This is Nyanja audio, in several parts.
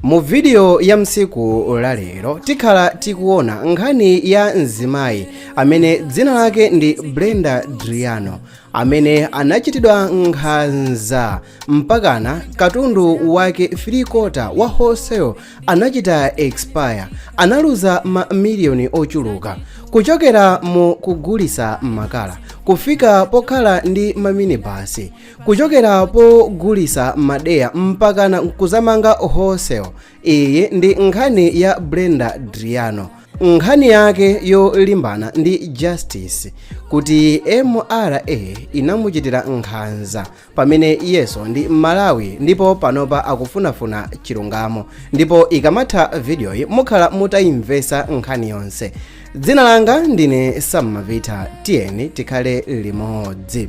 Mu vidiyo ya nsiku la lero tikhala tikuona nkhani ya mzimayi amene dzina lake ndi Brenda Driano amene anachitidwa nkhanza mpakana katundu wake 3 kota wa wholesale anachita expire analuza ma miliyoni ochuluka kuchokera mu kugulisa makala kufika pokhala ndi maminibasi kuchokera pogulisa madeya mpakana nkuzamanga wholesale iyi ndi nkhani ya brenda driano nkhani yake yolimbana ndi justice kuti mra inamuchitira nkhanza pamene iyeso ndi mmalawi ndipo panopa akufunafuna chilungamo ndipo ikamatha vidiyoyi mukhala mutayimvesa nkhani yonse dzina langa ndine sam mavita tiyeni tikhale limodzi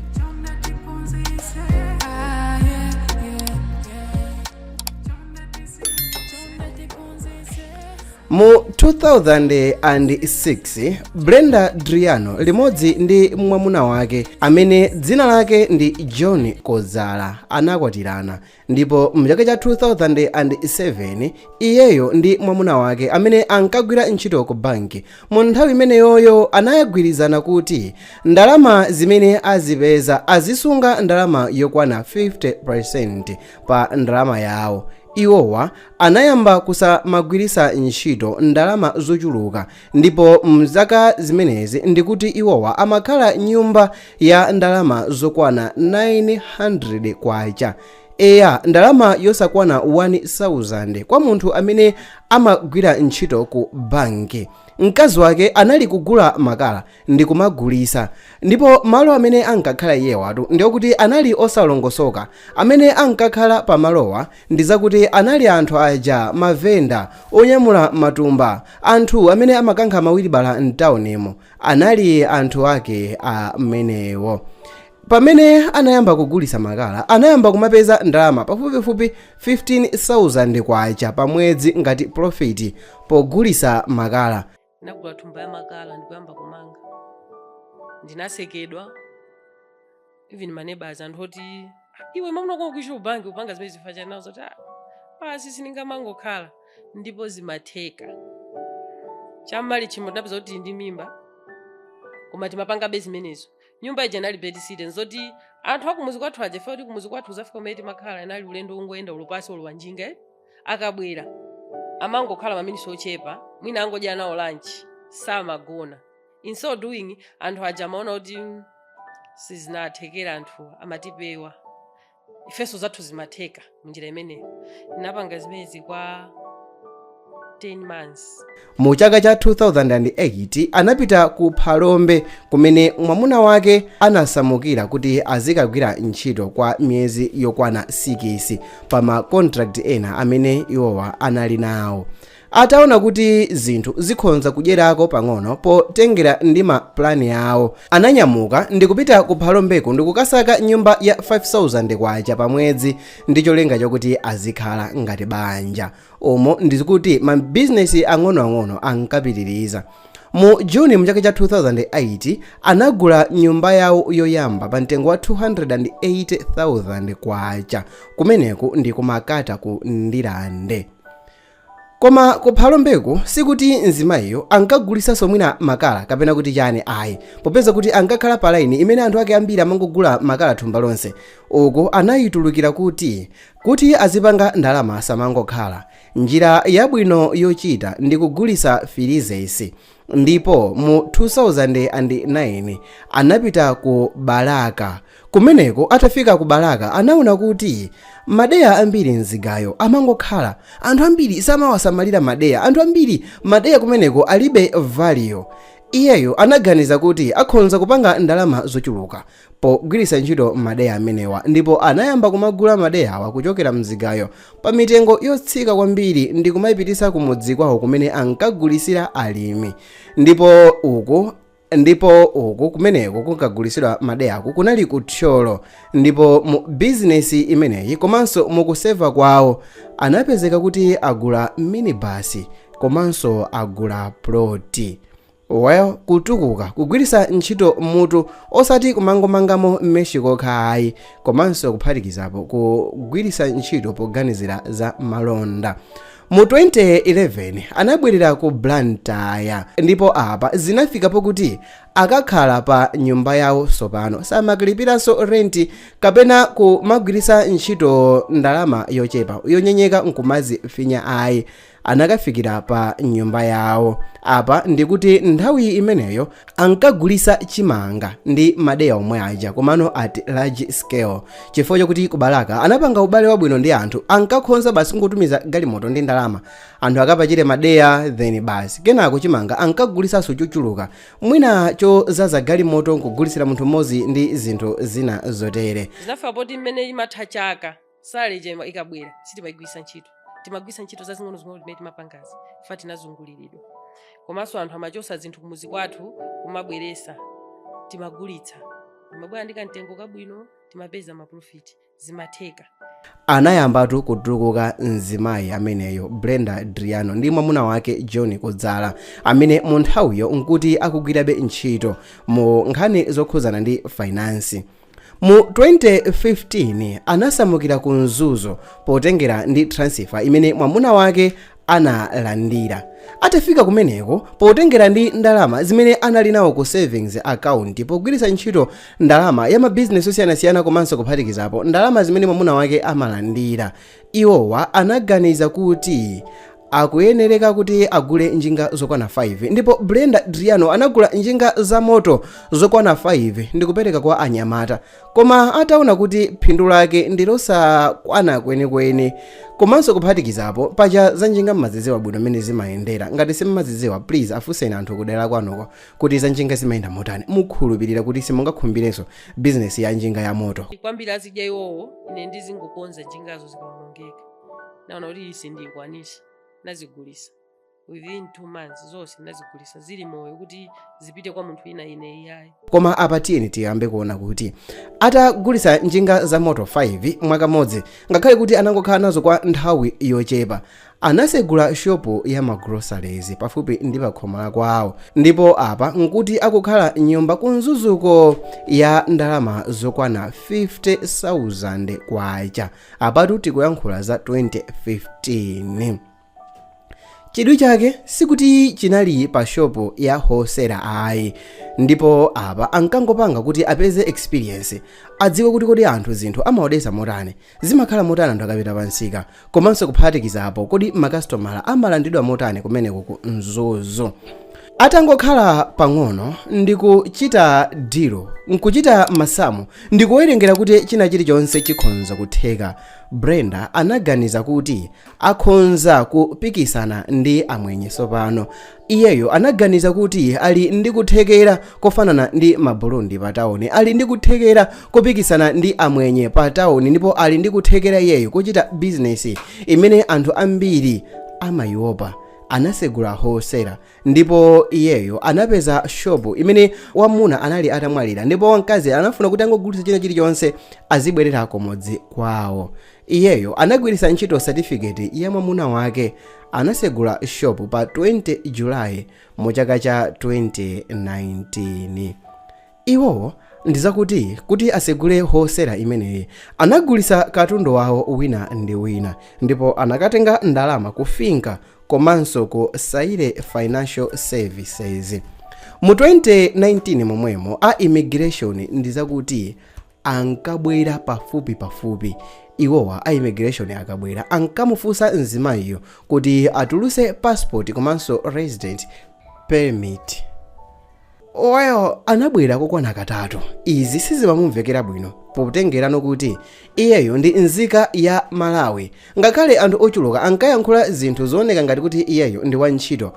mu 2006 brenda driano limodzi ndi mwamuna wake amene dzina lake ndi john kozala anakwatirana ndipo mchaka cha 2007 iyeyo ndi mwamuna wake amene ankagwira ntchito ku banki mu nthawi imeneyoyo anagwirizana kuti ndalama zimene azipeza azisunga ndalama yokwana 50% pa ndalama yawo iwowa anayamba kusamagwiritsa ntchito ndalama zochuluka ndipo mzaka zimenezi ndikuti iwowa amakhala nyumba ya ndalama zokwana 900 kwacha eya ndalama yosakwana 1000 kwa munthu amene amagwira ntchito ku banki mkazi wake anali kugula makala ndi kumagulisa ndipo malo amene ankakhala iwowatu ndiokuti anali osalongosoka amene ankakhala pamalowa ndi akuti anali anthu aja mavenda onyamula matumba Anthu amene amakankha mawilibala m'taunimu anali anthu ake amenewo. Pamene anayamba kugulitsa makala, anayamba kumapeza ndalama pafupifupi K15,000 pamwedzi ngati pulofiti pogulitsa makala. Ndinagula thumba ya makala ndi kuyamba kumanga. Ndinasekedwa. even maneighbors anthu oti iwe mamuna wako achita kubanki upanga zimenezi chifukwa chani nawo zoti "Ah, basi sindingamangokhala ndipo zimatheka cham'Malichimo tinapeza kuti tili ndi mimba koma timapangabe zimenezo nyumba ija inali bed sitting zoti anthu akumuzi kwathu aja ife poti kumuzi kwathu uzafika kumene timakhala inali ulendo wongoyenda wapasi olo wa njinga eh? akabwera amangokhala maminisi ochepa mwina angodya nawo lanchi samagona in so doing anthu aja amaona kuti mm, sizinathekera anthu amatipewa ifenso zathu zimatheka munjira imeneyo zinapanga zimenezi kwa 10 months mu chaka cha 2008 anapita ku phalombe kumene mwamuna wake anasamukira kuti azikagwira ntchito kwa miyezi yokwana 6 pa ma contract ena amene iwowa anali nawo Ataona kuti zinthu zikhonza kuchitikako pang'ono potengera ndi ma plan awo, ananyamuka ndikupita ku Phalombeko ndikukasaka nyumba ya K5000 pa mwezi ndi cholinga chokuti azikhala ngati banja umo ndi kuti ma business ang'onoang'ono ankapitiliza. Mu June mu chaka cha 2008 anagula nyumba yawo yoyamba pa mtengo wa K280,000 kumeneku ndi ku Makata ku Ndirande. Koma ku Phalombeku sikuti mzimayiyo ankagulisanso mwina makala kapena kuti chani ayi popeza kuti ankakhala pa laini imene anthu ake ambiri amangogula makala thumba lonse uku anayitulukira kuti kuti iye azipanga ndalama asamangokhala njira yabwino yochita ndi kugulisa filizeisi ndipo mu 2009 anapita ku balaka kumeneko atafika ku balaka anaona kuti madeya ambiri mzigayo amangokhala anthu ambiri samawasamalira madeya anthu ambiri madeya kumeneko alibe value iyeyo anaganiza kuti akhonza kupanga ndalama zochuluka pogwiritsa ntchito madeya amenewa ndipo anayamba kumagula madeyawa kuchokera mzigayo pa mitengo yotsika kwambiri ndi kumayipititsa kumudzi kwawo kumene ankagulisira alimi ndipo uku ndipo uku kumeneko kunkagulisidwa madeyaku kunali ku thyolo ndipo mu bizinesi imeneyi komanso mukuseva kwawo anapezeka kuti agula minibasi komanso agula ploti Well kutukuka kugwirisa ntchito mutu osati kumangomangamo meshi kokha ayi komanso kuphatikizapo kugwirisa ntchito poganizira za malonda mu 2011 anabwerera ku blantyre ndipo apa zinafika pokuti akakhala pa nyumba yawo sopano samakalipiraso renti kapena kumagwirisa ntchito ndalama yochepa yonyenyeka nkumazifinya ayi anakafikira pa nyumba yawo apa ndikuti nthawi imeneyo ankagulisa chimanga ndi madeya omwe aja komano at large scale chifukwa chakuti ku balaka anapanga ubale wabwino ndi anthu ankakhonza basi kungotumiza galimoto ndi ndalama anthu akapachire madeya then basi kenako chimanga ankagulisanso chochuluka mwina chozaza galimoto nkugulisira munthu mmodzi ndi zinthu zina zotere zinafika poti mmene imatha chaka salary ija ima- ikabwera sitimaigwisa ntchito timagwisa ntchito zazing'onozing'ono zimene timapangazi fa tinazunguliridwa komanso anthu amachosa zinthu kumuzi kwathu kumabweresa timagulitsa timabwera ndi kamtengo kabwino timapeza maprofiti zimatheka anayambatu kutukuka mzimayi ameneyo brenda driano ndi mwamuna wake john kudzala amene mu nthawiyo nkuti akugwirabe ntchito mu nkhani zokhudzana ndi fainansi Mu 2015 anasamukira ku Mzuzu potengera ndi transifa imene mwamuna wake analandira. Atafika kumeneko, potengera ndi ndalama zimene anali nawo ku savings account pogwiritsa ntchito ndalama ya mabizinesi osiyanasiyana komanso kuphatikizapo ndalama zimene mwamuna wake amalandira, Iwowa anaganiza kuti akuyenereka kuti agule njinga zokwana 5 ndipo Brenda Driano anagula njinga za moto zokwana 5 ndikupereka kwa anyamata koma ataona kuti phindu lake ndilosakwana kwenikweni komanso kuphatikizapo paja za njinga mmaziziwa bwino mmene zimayendera ngati simmaziziwa please afunseni anthu kudera kwanuko kuti za njinga zimayenda motani mukhulupirira kuti simungakhumbirenso bizinesi ya njinga ya moto kwambiri azidya iwowo ine ndizingokonza njingazo zikaonongeka naona kuti iyi sindikwanisa nazigulisa within two months zonse nazigulisa zili moyo kuti zipite kwa munthu ina ine iyayi koma apa tiyeni tiyambe kuona kuti atagulisa njinga za moto 5 mwakamodzi ngakhale kuti anangokhala nazo kwa nthawi yochepa Anasegula shopu ya ma groceries pafupi ndi pakhomala kwawo ndipo apa nkuti akukhala mnyumba ku Mzuzuko ya ndalama zokwana 50,000 kwacha. Apatu tikuyankhula za 2015. Chidwi chake sikuti chinali pa shopu ya hosera ayi ndipo apa ankangopanga kuti apeze experience adziwe kuti kodi anthu zinthu amaodesa motani Zimakhala motani anthu akapita pa msika? Komanso kuphatikizapo, kodi makasitomala amalandidwa motani kumeneko ku Mzuzu? Atangokhala pang'ono ndi kuchita dilo, nkuchita masamu, ndi kuwerengera kuti china chilichonse chikhonza kutheka, Brenda anaganiza kuti akhonza kupikisana ndi Amwenye tsopano. iyeyo anaganiza kuti ali ndi kuthekera kofanana ndi maburundi pa tawuni ali ndi kuthekera kopikisana ndi amwenye pa tawuni ndipo ali ndi kuthekera iyeyo kochita bizinesi imene anthu ambiri amayiopa anasegula hosera ndipo iyeyo anapeza shopu imene wamuna anali atamwalira ndipo wamkazi anafuna kuti angogulitsa china chilichonse azibwerera kumudzi kwawo Iyeyo anagwiritsa ntchito certificate ya mwamuna wake anasegula shop pa 20 July mu chaka cha 2019. Iwowo ndizakuti kuti asegule wholesale imeneyi anagulitsa katundu wawo wina ndi wina ndipo anakatenga ndalama ku Finca komanso ku Saile Financial Services. Mu 2019 momwemo a immigration ndizakuti ankabwera pafupipafupi. Iwowa a immigration akabwera ankamufunsa mzimayiyo kuti atuluse passport komanso resident permit. Iwo anabwera kokwana katatu. Izi sizimamumvekera bwino potengerano kuti iyeyo ndi nzika ya Malawi. Ngakhale anthu ochuluka ankayankhula zinthu zooneka ngati kuti iyeyo ndi wantchito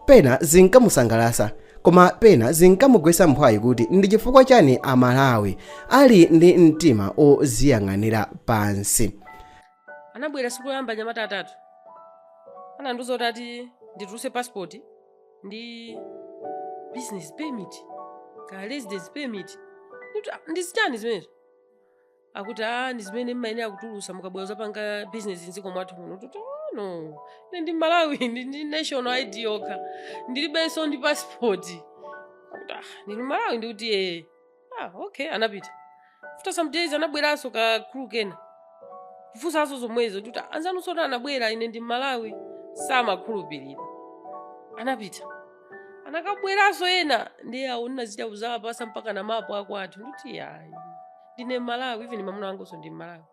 Pena zinkamusangalasa koma pena zinkamugwesa mphwayi kuti ndi chifukwa chani a Malawi ali ndi mtima oziyang'anira pansi. Anabwera siku loyamba anyamata atatu. Anandiuza kuti ati ndituluse passport ndi business permit ka residence permit. Ndikuti, "Ah, ndi zichani zimenezo? akuti a ndi zimene mmayenera kutulusa mukabwera kuzapanga bizinesi mdziko mwathu muno ndikuti "Oh, no ine ndi mmalawi ndi ndi national id yokha ndilibenso ndi passport akuti ah ndinu mmalawi ndikuti ee ah okay anapita after some days anabweranso ka crew kena kufunsanso zomwezo kuti anzanunsotu anabwera ine ndi mmalawi samakhulupirira anapita anakabweranso ena ndiye awo ndinachita kuzawapasa mpaka ndi mapu akwathu ndikuti yayi ndine mmalawi even mamuna wanganso ndi mmalawi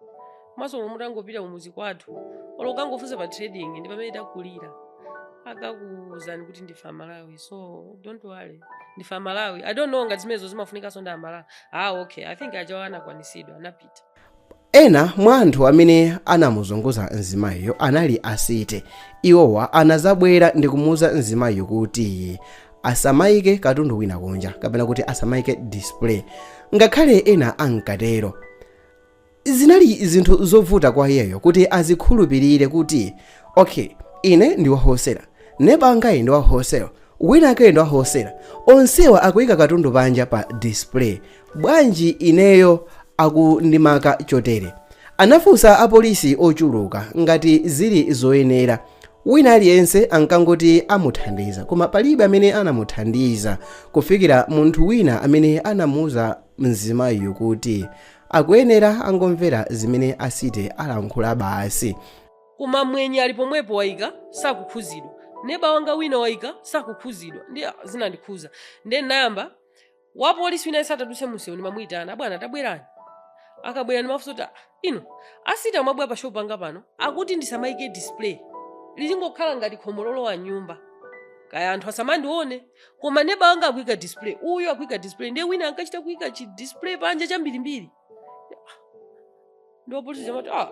komanso olo mutangopita kumudzi kwathu olo kukangofunsa pa trading ndi pamene takulira akakuuzani kuti ndife amalawi so don't worry ndife amalawi i don't know ngati zimenezo zimafunikanso ndi amalawi ah okay i think ajawa anakwanisidwa anapita ena mwa anthu amene anamuzunguza mzimayiyo anali a city iwowa anazabwera ndikumuuza mzimayiyo kuti asamaike katundu wina kunja kapena kuti asamaike display ngakhale ena ankatero zinali zinthu zovuta kwa iyeyo kuti azikhulupirire kuti okay ine ndi wa wholesale neba angayi ndi wa wholesale winawakeyu ndi wa wholesale onsewa akuyika katundu panja pa display bwanji ineyo akundimaka chotere anafunsa apolisi ochuluka ngati zili zoyenera Wina aliyense ankangoti amuthandiza, koma palibe amene anamuthandiza kufikira munthu wina amene anamuuza mzimayiyo kuti akuyenera angomvera zimene a city alankhula basi. Koma mmwenye ali pomwepo waika sakukhuzidwa, neba wanga wina waika sakukhuzidwa, ndiye zinandikhuza ndiye ndinayamba wapolisi wina asamaduse mumseu ndimamuyitana abwana tabwerani akabwera ndimafunsa kuti "Ah, ine a City mwabwera pa shopu yanga pano akuti ndisamayike display lizingokhala ngati khomo lolowa nyumba kaya anthu asamandione koma neba wanga akuyika display uyu akuyika display ndiye wina ankachita kuyika chi display panja chambirimbiri ndi wapolisi amati ah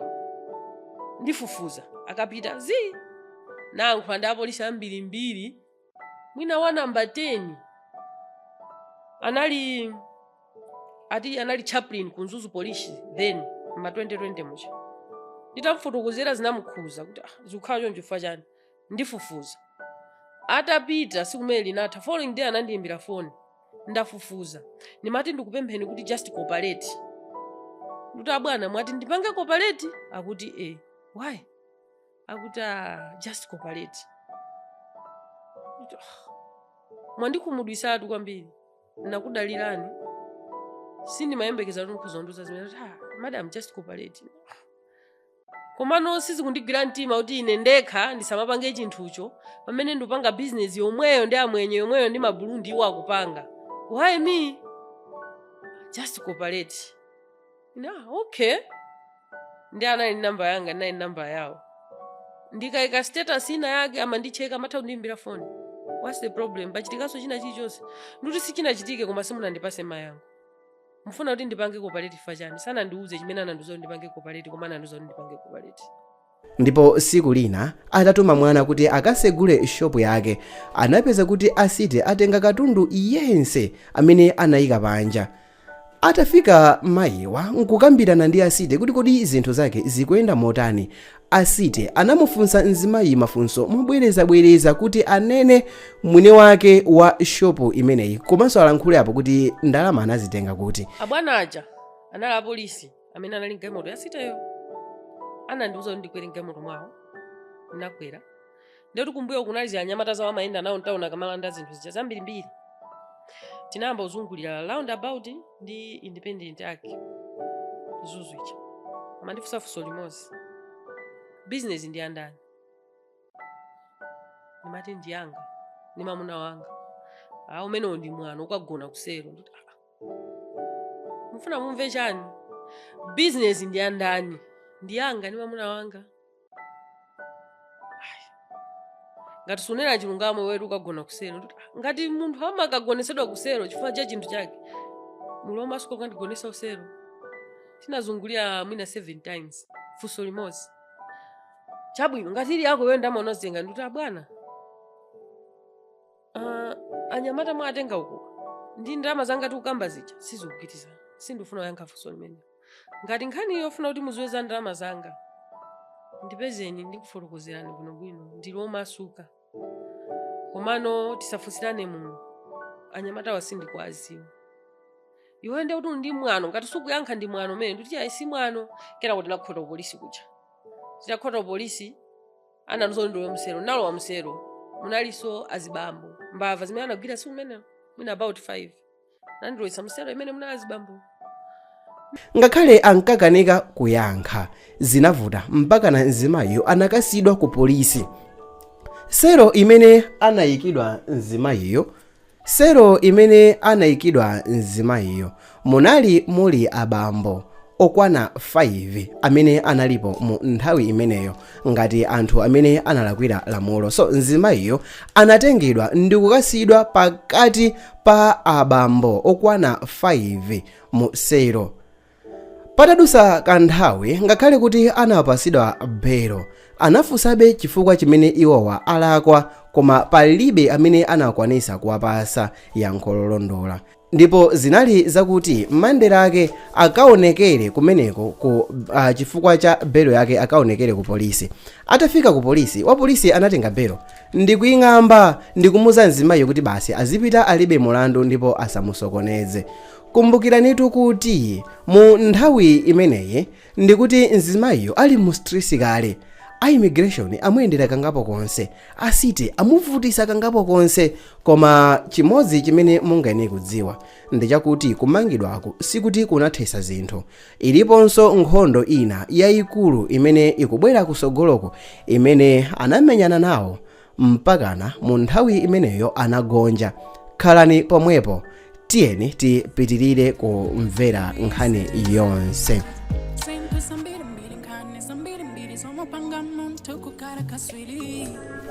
ndifufuza akapita zii ndayankhula ndi apolisi ambirimbiri mwina wa namba 10 anali ati anali chaplain ku mzuzu police then ma 2020 muja nditamfotokozera zinamukhuza kuti ah, zikukhala choncho chifukwa chani ndifufuza atapita tsiku limene linatha following day anandiyimbira foni ndafufuza ndimati ndikupempheni kuti just cooperate kuti abwana mwati ndipange cooperate akuti e why akuti "Ah, just cooperate Ndikuti, "Ah, mwandikhumudwitsatu kwambiri ndinakudalirani sindimayembekeza kuti mukhoza kundiuza zimenezi akuti "Ah, madam just cooperate komano sizikundigwira mtima kuti ine ndekha ndisamapange chinthucho pamene ndikupanga bizinesi yomweyo ndi amwenye yomweyo ndi Maburundi iwo akupanga why me just cooperate ine "Ah, okay ndiye anali namba yanga ndinali namba yawo ndikaika status ina yake amandicheka amatha kundiimbira foni whats the problem pachitikanso china chilichonse ndikuti sichinachitike koma simunandipatse mayankho mufuna kuti ndipange cooperate chifukwa chani sanandiuze chimene anandiuza kuti ndipange cooperate koma anandiuza kuti ndipange cooperate Ndipo siku lina atatuma mwana kuti akasegule shopu yake, anapeza kuti a City atenga katundu yense amene anayika panja. Atafika mayiwa n'kukambirana ndi a City kuti kodi zinthu zake zikuyenda motani, a City anamufunsa mzimayi mafunso mobwerezabwereza kuti anene mwini wake wa shopu imeneyi komanso alankhule apo kuti ndalama anazitenga kuti. Abwana aja anali apolisi. amene anali mgalimoto ya City yo anandiuza kuti ndikwere mgalimoto mwawo ndinakwera ndiye kuti kumbuyo kunali zinyamata zawo amayenda nawo mtauni akamalanda zinthu zija zambirimbiri tinayamba kuzungulira roundabout ndi independent arc Mzuzu ija amandifunsa funso limodzi bizinesi ndi yandani ndimati ndiyanga ndi mamuna wanga aa umenewo ndi mwano ukagona kuselo ndikuti "Ah, mufuna mumve chani bizinesi ndi yandani ndi yanga ndi mwamuna wanga Ai. ngati sunena chilungamo iwetu ukagona kuselo Ndikuti, "Ah, ngati munthu amakagonetsedwa kuselo chifukwa cha chinthu chake muli omasuka kukandigonetsa kuselo tinazungulira mwina seven times funso limodzi chabwino ngati ili yako iweyo ndalama unazitenga ndikuti abwana Ah, anyamata mwatenga uko ndi ndalama zanga tikukamba zija sizikupitiza sindifuna kuyankha funso limene ngati nkhani yofuna kuti mudziwe za ndalama zanga ndipezeni ndikufotokozerani bwinobwino ndili omasuka komano tisafunsirane muno anyamatawa sindikuwaziwa iwe ndiye kuti ndi mwano ngati sukuyankha ndi mwano umene ndikuti ayi si mwano kenako kuti nakhota polisi kuja titakhota polisi anandiuza ndilowe msero nalowa msero munalinso azibambo mbava zimene anagwira siku limenelo mwina about 5 nandilowesa msero imene munali azibambo ngakhale ankakanika kuyankha zinavuta mpakana mzimayiyo anakasiyidwa ku polisi sero imene anayikidwa mzimayiyo Selo imene anaikidwa mzimayiyo munali muli abambo okwana 5 amene analipo mu nthawi imeneyo ngati anthu amene analakwira lamulo. So mzimayiyo anatengedwa ndikukasiyidwa pakati pa abambo okwana 5 mu selo. patadusa kanthawi ngakhale kuti anapasidwa belo anafunsabe chifukwa chimene iwowa alakwa koma palibe amene anakwanisa kuwapasa yankho lolondola ndipo zinali zakuti Monday lake akaonekere kumeneko ku uh, chifukwa cha belo yake akaonekere ku polisi atafika ku polisi wapolisi anatenga belo ndikuying'amba ndikumuza mzimayiyo kuti basi azipita alibe mulandu ndipo asamusokoneze Kumbukiranitu kuti mu nthawi imeneyi ndikuti mzimayiyo ali mu stress kale, a immigration amuyendera kangapo konse, a city amuvutisa kangapo konse koma chimodzi chimene mungayenere kudziwa ndichakuti kumangidwako sikuti kunathesa zinthu, iliponso nkhondo ina yaikulu imene ikubwera kusogoloko imene anamenyana nawo Mpakana mu nthawi imeneyo anagonja. Khalani pomwepo, tiyeni tipitirire kumvera nkhani yonse. Zambirimbiri nkhani zambirimbiri zomupanga munthu kukhala katswiri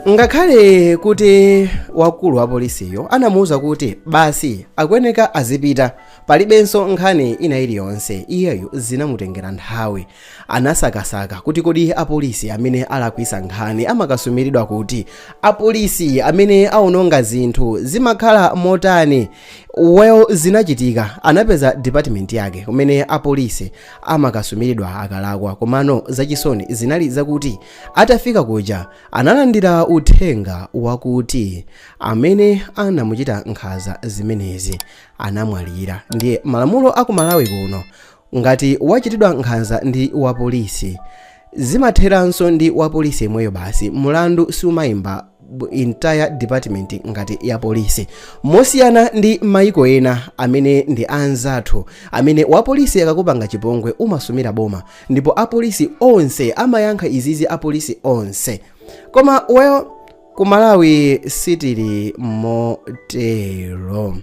ngakhale kuti wakulu wa polisiyo anamuwuza kuti basi akuyeneka azipita palibenso nkhani ina iliyonse iyeyo zinamutengera nthawi Anasakasaka kuti kodi apolisi amene alakwisa nkhani amakasumiridwa kuti? Apolisi amene aononga zinthu zimakhala motani? Well zinachitika anapeza department yake kumene apolisi amakasumiridwa akalakwa komano zachisoni zinali zakuti atafika kuja analandira uthenga wakuti amene anamuchita nkhanza zimenezi anamwalira ndiye malamulo aku Malawi kuno Ngati wachitidwa nkhanza ndi wapolisi, zimatheranso ndi wapolisi yemweyo basi, mulandu siumaimba entire department ngati ya polisi. Mosiyana ndi maiko ena amene ndi anzathu, amene wapolisi akakupanga chipongwe umasumira boma ndipo apolisi onse amayankha izizi apolisi onse. Koma well, ku Malawi sitili motero.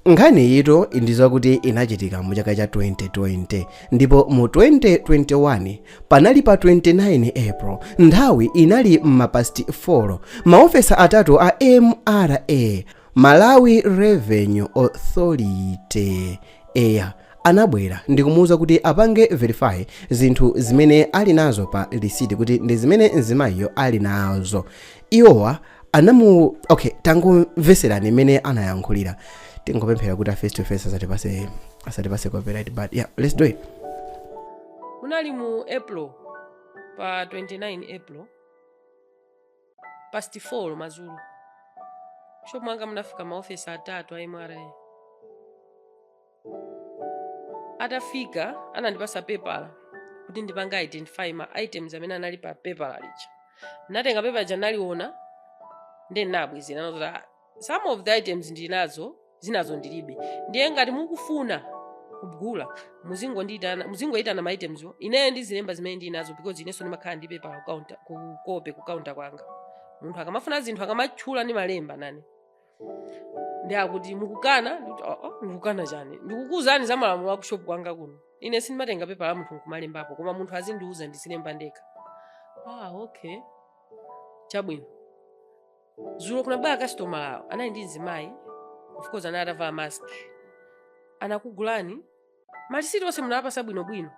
Nkhaniyitu ndi yakuti inachitika mu chaka cha 2020 ndipo mu 2021 panali pa 29 April nthawi inali m'mapasti 4 maofisa atatu a MRA Malawi Revenue Authority eya anabwera ndikumuwuza kuti apange verify zinthu zimene ali nazo pa lisiti kuti ndi zimene mzimayiyo ali nazo iwowa anamu okay tangomveserani mmene anayankhulira tingopemphera kuti a face to face asatipatse asatipatse copyright but yeah let's do it munali mu april pa 29 april past 4 madzulo shop mwanga munafika maofisa atatu a mra atafika anandipatsa pepala kuti ndipange identify ma items amene anali pa pepala lija ndinatenga pepala lija ndinaliona ndiye ndinabwezera ndikuti "Ah, some of the items ndili nazo zinazo ndilibe ndiye ngati mukufuna kugula muzingondiitana muzingoyitana ma itemswo ineyo ndizilemba zimene ndili nazo because inenso ndimakhala ndi pepala kukaunta kukope kukaunta kwanga munthu akamafuna zinthu akamatchula ndimalemba nane ndiye akuti mukukana ndikuti oo ndikukana chani ndikukuuzani za malamulo akushopu kwanga kuno ine sindimatenga pepala la munthu nkumalembapo koma munthu azindiuza ndizilemba ndekha ah okay chabwino zulo kunabwera kasitomala awo anali ndi mzimayi of course anali atavala mask anakugulani malisiti onse munawapatsa bwinobwino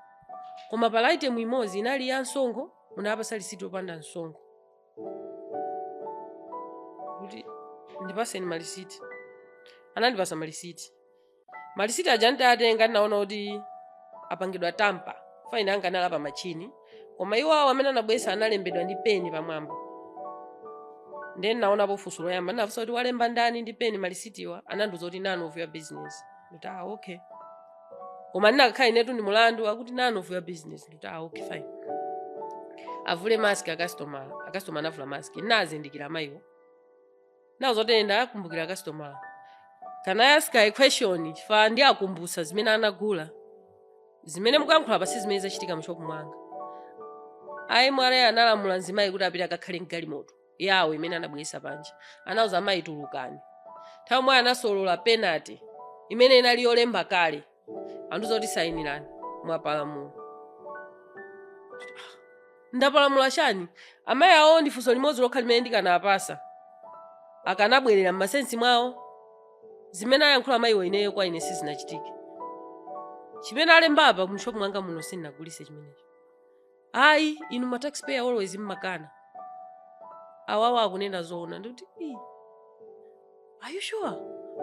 koma panali item imodzi inali ya msonkho munawapatsa lisiti yopanda msonkho kuti ndipatseni malisiti anandipatsa malisiti malisiti aja nditatenga ndinaona kuti apangidwa tamper fine anga anali pa machini koma iwo awo amene anabweretsa analembedwa ndi peni pamwamba ndiye ndinaonapo funso loyamba ndinafunsa kuti walemba ndani ndi peni malisitiwa anandiuza kuti none of your business ndikuti ah okay koma ndikanakhala inetu ndi mulandu akuti none of your business ndikuti ah, okay fine avule mask akasitomala akasitomala anavula mask ndinazindikira mayiwo ndinawauza kuti ndakumbukira akasitomala can i ask a question chifukwa ndiwakumbutse zimene anagula zimene mukuyankhulapa si zimene zachitika mshopu mwanga a MRA analamula mzimayi kuti apite akakhale mgalimoto yawo imene anabweretsa panja anauza amayi tulukani nthawi imweyo anasolola penalty imene inali yolemba kale anandiuza zoti sayinirani mwapalamula ndapalamula chani amayi awo ndi funso limodzi lokha limene ndikanafunsa akanabwerera m'masensi mwawo zimene ayankhula amayiwo ineyo kwa ine sizinachitike chimene alembapa mshopu mwanga muno sindinagulise chimenecho ayi inu ma taxpayer always mmakana awawa akunena zoona ndikuti are you sure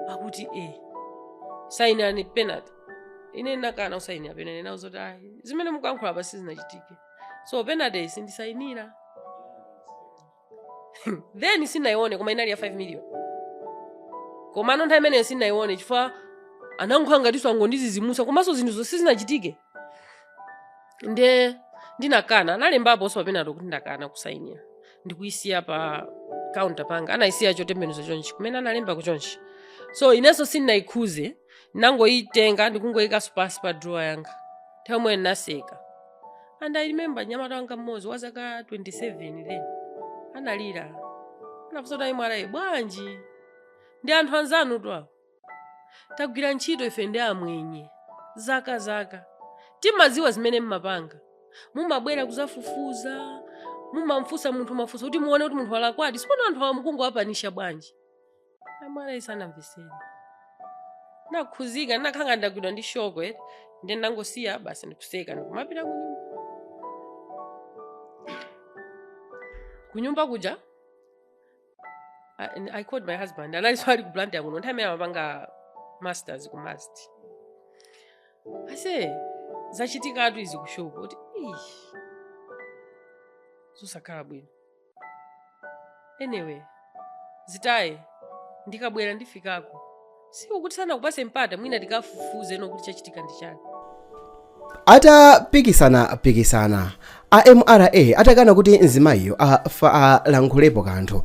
akuti e sayinirani penalty ine nakana kusayinira penalty nawauza zoti ayi zimene mukuyankhulapa sizinachitike so penalty sindisayinira then sinayione koma inali ya 5 million komano nthawi imeneyo sinayione chifukwa anankhula ngati angondizizimutsa komanso zinthu zoti sizinachitike nde ndinakana analembaponso pa penalty kuti ndakana kusayinira ndikuyisiya pa kaunta panga anayisiya chotembenuza chonchi kumene analemba kuchonchi so inenso sindinayikhuze nangoyitenga ndikungoyikanso pansi pa drawer yanga nthawi imwe ndinaseka and i remember mnyamata wanga mmodzi wa zaka 27 then analira anafunsa kuti a mra bwanji ndi anthu anzanutu awa tagwira ntchito ife ndi amwenye zaka zaka timaziwa zimene mmapanga mumabwera kuzafufuza mumamfunsa munthu mafunso kuti muone kuti munthu walakwadi tsopano anthu awa mukungowapanisha bwanji a mra sanamvetsere nakhuzika nakhanga ndagwidwa ndi shoko nde nangosiya basi ndikutseka ndikumapita kunyumba kunyumba kuja I called my husband analinso ali ku Blantyre kuno nthawi imene amapanga masters ku must aise zachitikatu izi kushopu akuti "Ih, zosakhala bwino anyway zitaye ndikabwera ndifikako si ukuti sanakupatse mpata mwina tikafufuze nokuti chachitika ndi chani atapikisana-pikisana a mra atakana kuti mzimayiyo alankhulepo kanthu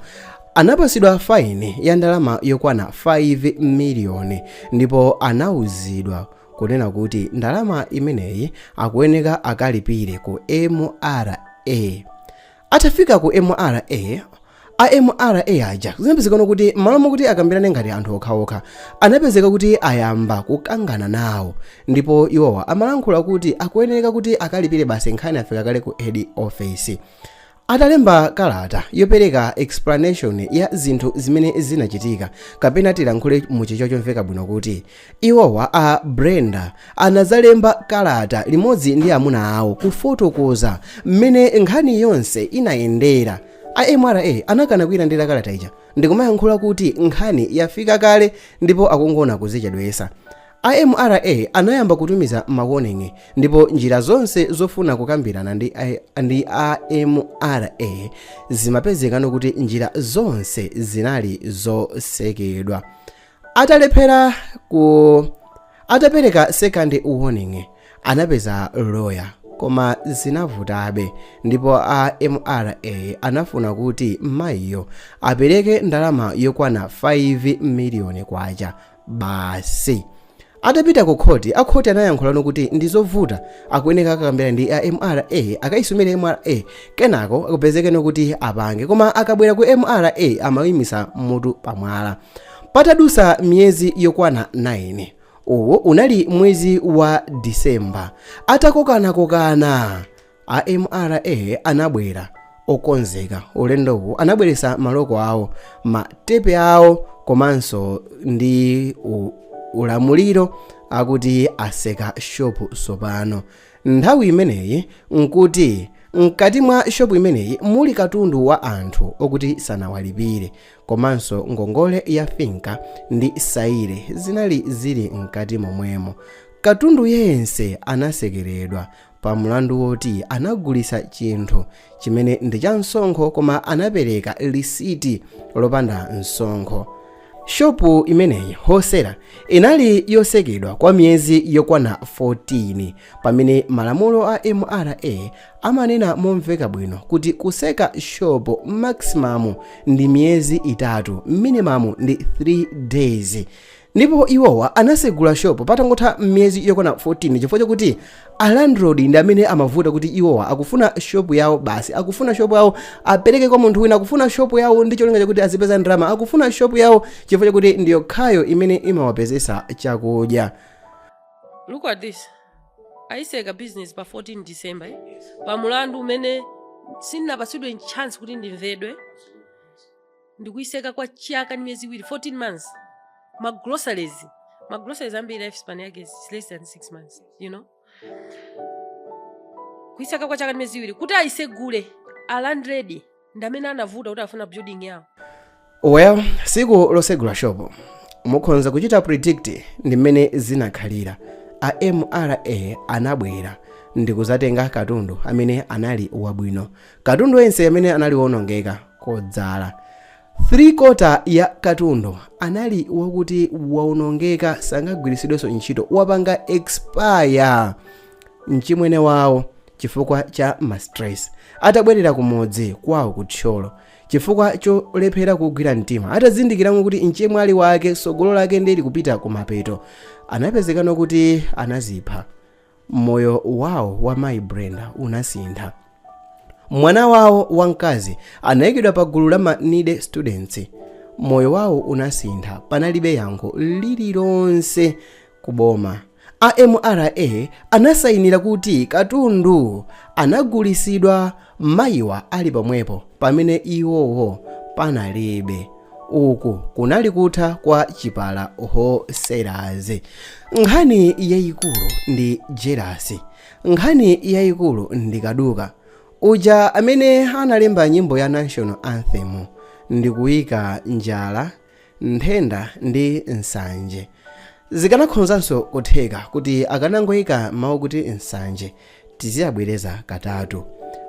anapatsidwa faini ya ndalama yokwana 5 miliyoni ndipo anauzidwa kunena kuti ndalama imeneyi akuyeneka akalipire ku mra Atafika ku mra, a mra aja zinapezeka kuti m'malo mokuti akambirane ngati anthu okhaokha, anapezeka kuti ayamba kukangana nawo ndipo iwowa amalankhula kuti akuyenereka kuti akalipire basi nkhani yafika kale ku head office. Atalemba kalata yopereka explanation ya zinthu zimene zinachitika kapena tilankhule mu chichewa chomveka bwino kuti Iwowa, a Brenda, anadzalemba kalata limodzi ndi amuna awo kufotokoza mmene nkhani yonse inayendera. A mra anakana kuilandira kalata ija ndikumayankhula kuti nkhani yafika kale ndipo akungona kuzichedwetsa. A mra anayamba kutumiza ma warning ndipo njira zonse zofuna kukambirana ndi a, ndi a mra zimapezekano kuti njira zonse zinali zotsekedwa. atalephera ku atapereka second warning anapeza loya koma zinavutabe ndipo a mra anafuna kuti mayiyo apereke ndalama yokwana 5 miliyoni kwacha basi Atapita ku khoti, a khoti anayankhula kuti ndi zovuta akuyeneka akakambirane ndi a mra akaisumire mra kenako akupezekeno kuti apange koma akabwera ku mra amayimitsa mutu pa mwala. Patadutsa miyezi yokwana 9 uwu unali mwezi wa December atakokanakokana, A mra anabwera okonzeka ulendowu anabweretsa maloko awo ma tepe awo komanso ndi u, ulamuliro akuti atseka shopu tsopano nthawi imeneyi nkuti mkati mwa shopu imeneyi muli katundu wa anthu okuti sanawalipire komanso ngongole ya FINCA ndi saire zinali zili mkati momwemo katundu yense anatsekeredwa pa mlandu woti anagulitsa chinthu chimene ndi cha msonkho koma anapereka lisiti lopanda msonkho shopu imeneyi wholesale inali yotsekedwa kwa miyezi yokwana 14 pamene malamulo a mra amanena momveka bwino kuti kutseka shopu maximum ndi miyezi itatu minimum ndi 3 days Ndipo iwowa anatsegula shop patangotha miyezi yokwana 14 chifukwa chakuti a landlord ndi amene amavuta kuti iwowa akufuna shop yawo basi, akufuna shop yawo apereke kwa munthu wina, akufuna shop yawo ndi cholinga chakuti azipeza ndalama, akufuna shop yawo chifukwa chakuti ndi yokhayo imene imawapezetsa chakudya. Look at this. Ayitseka business pa 14 December eh? pa mulandu umene sindinapatsidwe chance kuti ndimvedwe ndikuyitseka kwa chaka ndi miyezi iwiri 14 months ma groceries ma groceries ambiri life span yake is less than 6 months you know kuyitseka kwa chaka ndi miyezi iwiri kuti ayitsegule a landlord ndi amene anavuta kuti afuna building yawo well tsiku lotsegula shopo mukhonza kuchita predict ndi mmene zinakhalira a mra anabwera ndikudzatenga katundu amene anali wabwino katundu yense amene anali wonongeka kodzala 3 quarter ya katundu anali wakuti waonongeka sangagwiritsidwenso ntchito wapanga expire mchimwene wawo chifukwa cha mastress atabwerera kumudzi kwawo ku thyolo chifukwa cholephera kugwira mtima atazindikiramo kuti mchemwali wake sogolo lake ndili kupita kumapeto anapezeka no kuti anazipha Moyo wawo wa mayi Brenda unasintha. Mwana wawo wamkazi anayikidwa pa gulu la ma needy students. Moyo wawo unasintha, panalibe yankho lililonse ku boma. A MRA anasayinira kuti katundu anagulisidwa mayiwa ali pomwepo pamene iwowo panalibe. uku kunali kutha kwa chipala wholesalers nkhani yayikulu ndi jealousy nkhani yayikulu ndi kaduka uja amene analemba nyimbo ya national anthem ndikuyika njala nthenda ndi nsanje Zikanakhonzanso kutheka kuti akanangoika mau kuti nsanje tiziyabwereza katatu.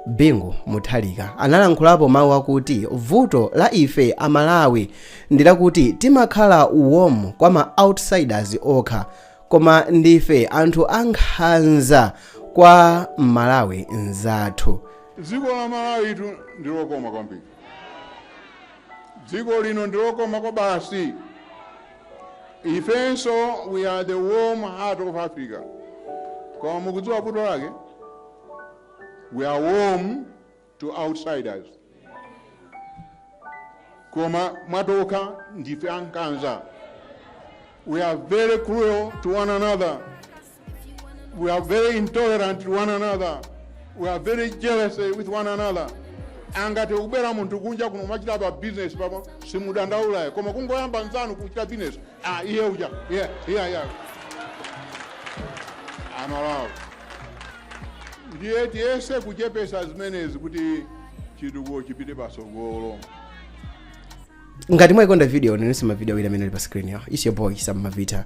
Bingu Mutharika analankhulapo mau akuti vuto la ife a Malawi ndilakuti timakhala warm kwa ma outsiders okha koma ndife anthu a nkhanza kwa m'Malawi nzathu. Dziko la Malawitu ndi lokoma kwambiri. Dziko lino ndi lokoma kwabasi. ifenso we are the warm heart of africa koma mukudziwa vuto lake we are warm to outsiders koma mwatokha ndife ankhanza we are very cruel to one another We are very intolerant to one another. We are very jealous with one another. Angatikubera munthu kunja kuno kumachita pa business papa simudandaulayo koma kungoyamba nzanu kuchita business ah iye uja yeah yeah yeah aMalawi ndiye tiyese kuchepesa zimenezi kuti chitukuko chipite patsogolo ngati mwayikonda video onaninso mavideo awiri amene ali pa screen yawo it's your boy sam mavita